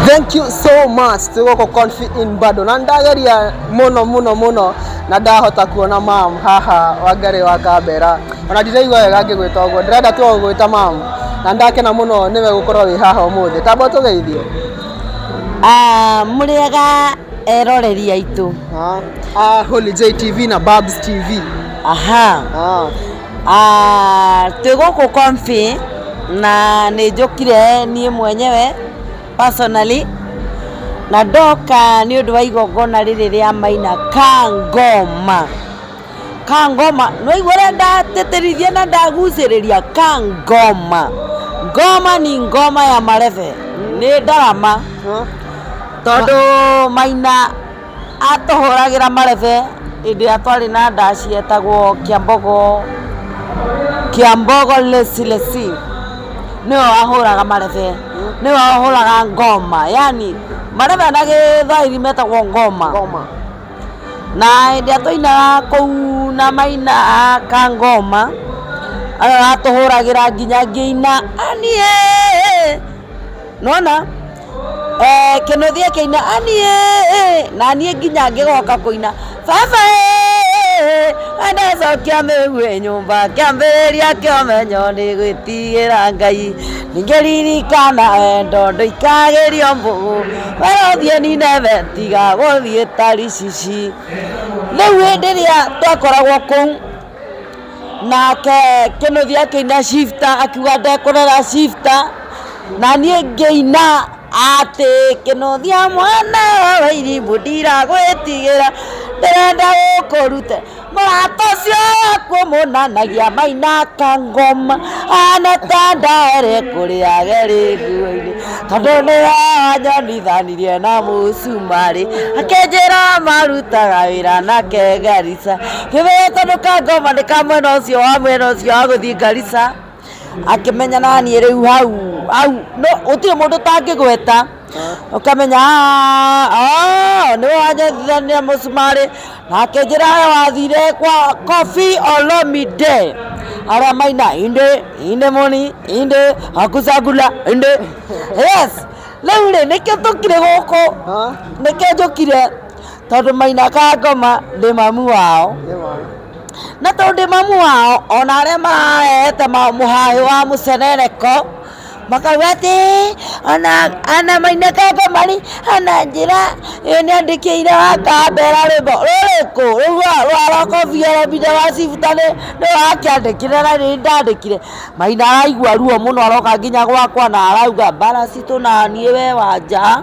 thank you so much tugoko confit in bado na ndageria muno muno muno na ndahota kuona mam haha wangari wa kambera ona ndiraigua wega ngĩgwĩta ũguo ndĩrenda tu gũgwĩta mam na ndakena muno nĩwe gũkorwo wĩ haha ũmũthĩ tamba tũgeithie Ah, mũrĩega eroreri aitũ Ah, ah, Holy J TV na Babs TV aha Ah, Ah, twĩ gũkũ Comfy na nĩ njũkire niĩ mwenyewe personally na ndoka nĩ ũndũ wa igongona rĩrĩ rĩa maina kangoma kangoma nĩwaigua ũrĩa ndatĩtĩrithia na ndagucĩrĩria kangoma ngoma ni ngoma ya marebe nĩ ndarama tondũ maina Atũhũragĩra marebe hĩndĩ ĩrĩa twarĩ na ndaci yetagwo Kĩambogo, Kĩambogo Lesi Lesi, nĩwe wahũraga marebe, nĩwe wahũraga ngoma, yaani marebe na gĩthwaĩri metagwo ngoma. Na hĩndĩ ĩrĩa twainaga kũu na maina ka ngoma, nĩwe watũhũragĩra nginya ngĩina, aniee, nĩ wona? Eh, kĩnũthi kĩina aniĩ naniĩ nginya ngĩgoka kũina baba ndacokia mĩgue nyũmba kĩambĩrĩria kĩa ũmenyo nĩ gwĩtigĩra ngai ningĩ ririkana wendo ndũikagĩrio mbũgũ we ũthiĩ nineve tiga gũthiĩ taricici rĩu hĩndĩ ĩrĩa twakoragwo kũu nake kĩnuthi akĩina shifta akiuga ndekũrera shifta na niĩ ngĩina atĩ kĩnuthi mwana wa irimũ ndiragwĩtigĩra ndĩrenda gũkũrute mũrata ũcio waku mũnanagia maina kangoma ana ta ndare kũrĩa gerĩguo-inĩ tondũ nĩ wanyonithanirie na mũcumarĩ akĩnjĩra marutaga wĩra nake Garissa Kĩrũrũngano ka ngoma nĩ ka mwena ũcio wa mwena ũcio wa gũthiĩ Garissa, akĩmenya naniĩ rĩu hau hau no gũtirĩ mũndũ ũtangĩgweta ũkamenya "Ah, oh, nĩ wanyendithania mũcumarĩ nake njĩra we wathire kwa Koffi Olomide arĩa maina inde inde moni inde akusagula inde yes rĩu rĩ nĩkĩo tũkire gũkũ nĩkĩo njũkire tondũ maina kangoma ndĩ mamu wao na tondũ ndĩ mamu wao ona arĩa mararehete mũhahĩ wa mũcerereko makauga atĩ ona ana maina kangoma rĩ ana njĩra ĩ nĩ andĩkĩire wa kambera rwĩmbo rũrĩkũ rũa rwa rokobi orobide wa cibuta nĩ nĩ wakĩandĩkire na nĩ ndandĩkire maina araigua ruo mũno aroka nginya gwakwa na arauga mbara citũ na niĩ we wanja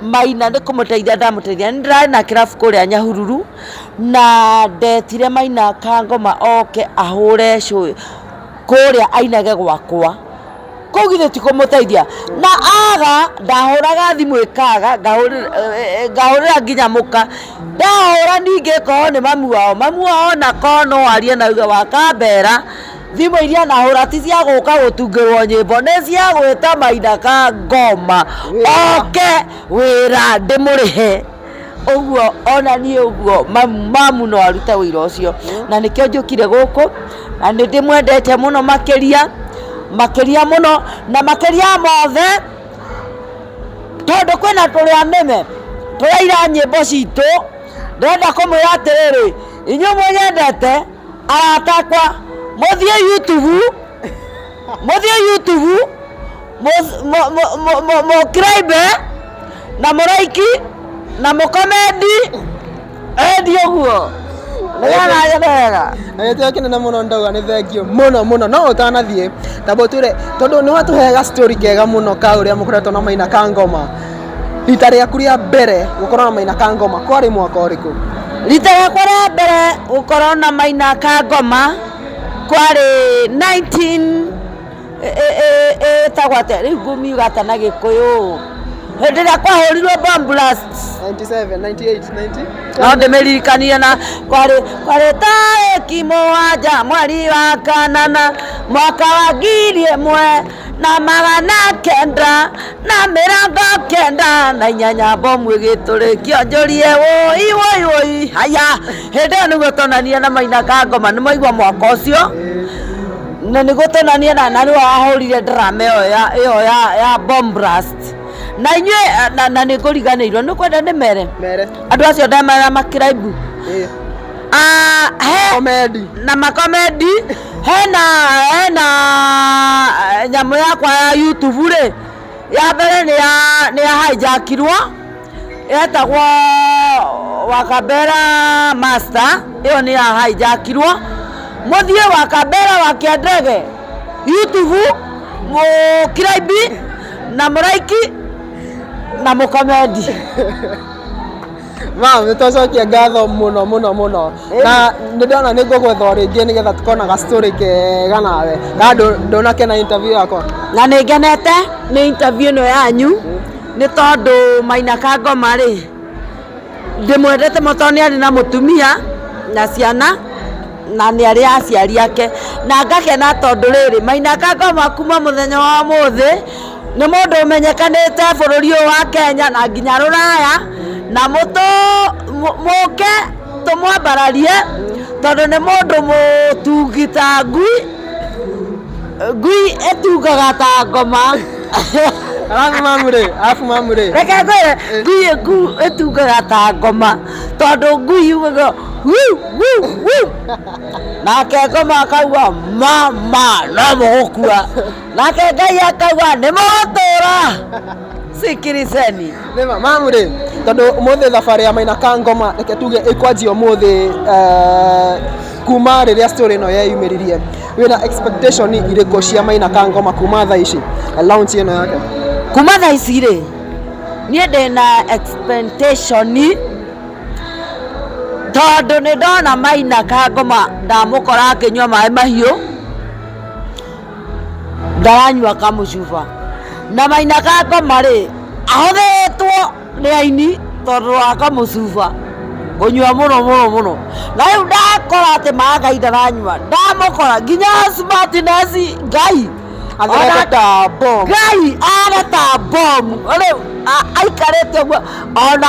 Maina nĩ kũmũteithia ndamũteithia. Nĩ ndĩrarĩ na kĩrabu kũrĩa Nyahururu, na ndetire Maina kangoma oke ahũre cũ kũrĩa ainage gwakwa. Kũu githĩ ti kũmũteithia? Na aga, ndahũraga thimũ ĩkaga, ngahũrĩra nginya mũka. Ndahũra ningĩ ngorwo nĩ mami wao. Mami wao ona korwo no arie na auge we akambera. Thimũ iria nahũra ti cia gũka gũtungĩrwo nyĩmbo nĩ cia gwĩta maina ka ngoma oke wĩra ndĩmũrĩhe ũguo ona niĩ ũguo mamu no arute wĩra ũcio na nĩkĩo njũkire gũkũ na nĩ ndĩmwendete mũno makĩria makĩria mũno na makĩria mothe tondũ kwĩna tũrĩa nĩme tũraira nyĩmbo citũ ndĩrenda kũmwĩra atĩrĩrĩ inyuĩ mũnyendete arata akwa mũthiĩ youtube mũthiĩ youtube mũth- mũ- mũ- mũ- mũ- mũcribe na mũraiki na mũkomendi endi ũguo nĩgetha nyende wega agĩtĩa kĩnene mũno ndauga nĩ thengio mũno mũno no ũtanathiĩ tabo twĩre tondũ nĩ watũheaga story kega mũno ka ũrĩa mũkoretwo na maina ka ngoma Rita rĩaku rĩa mbere gũkorwo na Maina ka ngoma kwarĩ mwaka ũrĩkũ? Rita rĩakwa rĩa mbere gũkorwo na Maina ka ngoma kwarĩ 19 ĩtagwo atĩa rĩu ngumiuga atĩa na gĩkũyũ hĩndĩ ĩrĩa kwahũrirwo bomb blast 97, 98, 90? no ndĩmĩririkanie na kwarĩ kwarĩ tarĩki mũgwanja mweri wa kanana mwaka wa ngiri ĩmwe na magana kenda na mĩrongo kenda na inyanya mbomu ĩgĩtũrĩkio njũrie woi woi woi haya hĩndĩ ĩyo nĩguo tonanire na mainaga ngoma nĩ maigua mwaka ũcio na nĩguo tonanire na na nĩwe wahũrire drama ĩyo ya ĩyo ya ya bomb blast na inyuĩ na, na nĩ ngũriganĩirwo nĩ kwenda nĩ mere mere andũ acio ndamera makiraibu ĩĩ Ah, he komedi na makomendi hena hena eh, nyamũ yakwa ya youtube rĩ ya mbere nĩ ya nĩ ya hijackirwo yetagwo wakabera master ĩyo nĩ ya hijackirwo mũthiĩ wakabera wakĩandege youtube mũkiraibi na mũraiki na mũkomendi Wow, nĩ twacokia ngatho mũno mũno mũno na nĩ ndona nĩ ngũgwetha o rĩngĩ nĩgetha tũkona ga story kega nawe na ndũ- ndũnakena interview yakwa na nä ngenete nä interview ä no yanyu nä tondå maina kangoma rä ndä mwendete må tondå nä arä na må tumia na ciana na nä arä aciari ake na ngakena tondå rä rä maina kangoma kuma må thenya wa må thä nĩ mũndũ ũmenyekanĩte bũrũri ũyũ wa Kenya na nginya rũraya na mũtũ mũ- mũke tũmwambararie tondũ nĩ mũndũ mũtungi ta ngui ngui ĩtungaga ta ngoma Alafu mamu rĩ, alafu mamu rĩ. reke ngwĩre ngui ĩku- ĩtungaga ta ngoma tondũ ngui yugaga "Wu, wu, wu." nake ngoma akaua mama no mũgũkua nake ngai akauga nĩ mũgũtũũra sikiriceni Nĩma, mamu rĩ tondå må thä thabarä ya maina ka ngoma reke tuge ä kwanjia å må thä kuma rä rä a story ä no yeyumä ririe wä na expectation irä kå cia maina ka ngoma kuma tha ici launch ä no yake kuma thaa ici rĩ niĩ ndĩ na expectation tondũ nĩ ndona maina ka ngoma ndamũkora akĩnyua maĩ mahiũ ndaranyua kamũcuba na maina gakoma rĩ ahũthĩtwo nĩ aini tondũ wa kamũcuba kũnyua mũno mũno mũno na rĩu ndakora atĩ maga itaranyua ndamũkora nginya smartness ngai Athondeke ta bomu. ngai areta bomu rĩu a- aikarĩte ũguo ona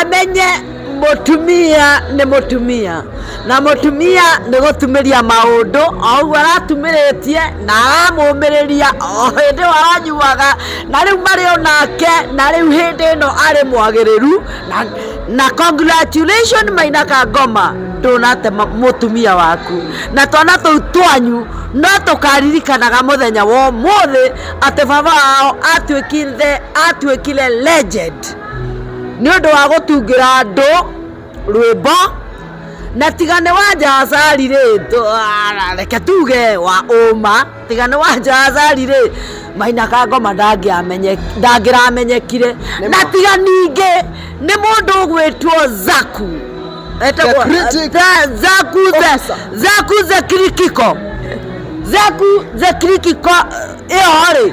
amenye mũtumia nĩ mũtumia na mũtumia nĩ gũtumĩria maũndũ o ũguo aratumĩrĩtie na aramũmĩrĩria o hĩndĩ ĩyo aranyuaga na rĩu marĩ o nake na rĩu hĩndĩ ĩno arĩ mwagĩrĩru na, na congratulation maina kangoma ndũnate ma- mũtumia waku na twana tũu twanyu no tũkaririkanaga mũthenya wa ũmũthĩ atĩ baba wao atuĩkire atuĩkire legend Christ nĩ ũndũ wa gũtungĩra andũ rwĩmbo na tiga nĩ wa njacari rĩ tũ- ah, reke tuge wa ũma tiga nĩ wa njacari rĩ maina kangoma ndangĩamenye- ndangĩramenyekire Nĩ na ma. tiga ningĩ nĩ mũndũ ũgwĩtwo zaku Etagwo- The critic the- zaku the- officer. zaku the kirikiko zaku the kirikiko ĩyo rĩ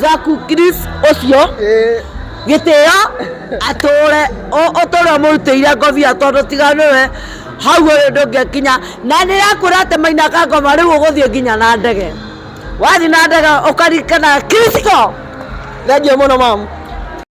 Zaku Chris ũcio gĩtĩo atũre ũtũre ũmũrutĩire ngobia tondũ tiga nĩwe hau ũrĩ ndũngĩkinya na nĩ yakwĩra atĩ maina kangoma rĩu ũgũthiĩ nginya na ndege wathiĩ na ndege ũkarikana Chris go thengiũ mũno mamu